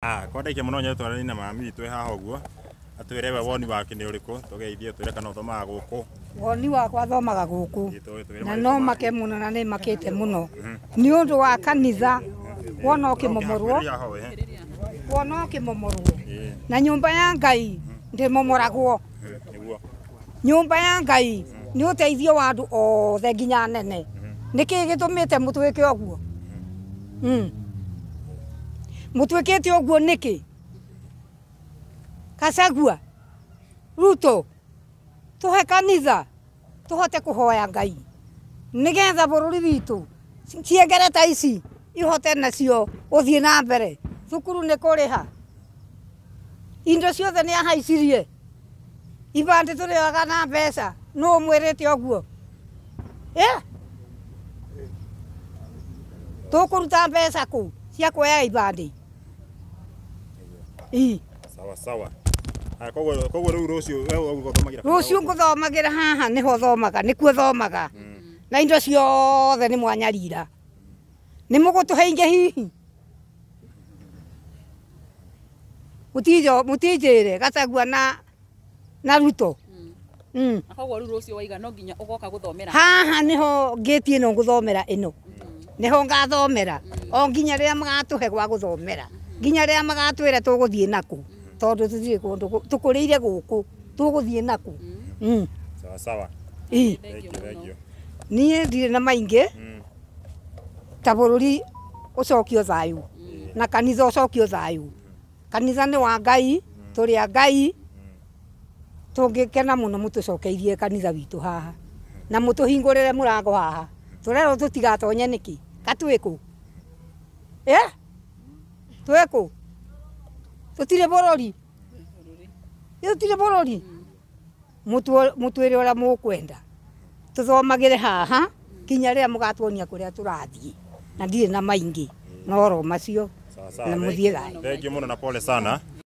Ah, kwa ndaikia mũno nyoe twarani na mami witũ e haha ũguo atwĩre we woni wake nĩ ũrĩkũ tũgeithie twĩre kana ũthomaga gũkũ woni wakwa thomaga gũkũ Ĩ, tũĩ- twĩre na maũndũ no make. make mũno na nĩ makĩte mũno nĩ ũndũ wa kanitha wona ũkĩmomorwo Ũkĩhakuhĩrĩria ho, eh. wona ũkĩmomorwo Ĩ. na nyũmba ya ngai ndĩmomoragwo nĩguo nyũmba ya ngai nĩ ũteithio wa andũ othe nginya nene nĩ kĩĩ gĩtũmĩte mũtwĩke ũguo Mm. mũtwĩkĩte ũguo nĩkĩ kacagua ruto tũhe kanitha tũhote kũhoya ngai nĩgetha bũrũri witũ ciengere ta ici ihote nacio gũthiĩ na mbere thukuru nĩ kũrĩha Indo ciothe nĩ ahaicirie. Ibandĩ tũrĩoaga na mbeca. Nũ ũmwĩrĩte ũguo? Eh? Tũkũruta mbeca kũ cia kuoya ibandĩ? Ii. sawa sawa Aya, koguo koguo rĩu rũciũ we ũgũthomagĩra Rũciũ ngũthomagĩra haha nĩho thomaga, nĩkuo thomaga. Na indo ciothe nĩ mwanyarira. Nĩ mũgũtũhe ingĩ hihi? mutinjire gacagua na na ruto mm. koguo riu rucio waiga no nginya ugoka guthomera haha niho ngiti ino nguthomera ino mm. niho ngathomera mm. o nginya riria magatuhe gwa guthomera nginya riria magatwira tuguthie naku tondu tuthire kundu tukurire guku tuguthie naku sawa sawa nie ndirä na maingä ta bũrũri ũcokio thayũ na kanitha ũcokio thayũ kanitha nĩ wa ngai tũrĩ a ngai tũngĩkena mũno mũtũcokeirie kanitha witũ haha na mũtũhingũrĩre mũrango haha tũrerwo tũtigatonye nĩkĩ katwĩkũ ĩ twĩkũ tũtirĩ bũrũri tũtirĩ bũrũri mũtwĩre ũrĩa mũkwenda tũthomagĩre haha kinya rĩrĩa mũgatuonia kũrĩa tũrathiĩ na ndirĩ na maingĩ no ro macio na mũthiĩ thayũ. Thank you mũno na pole sana.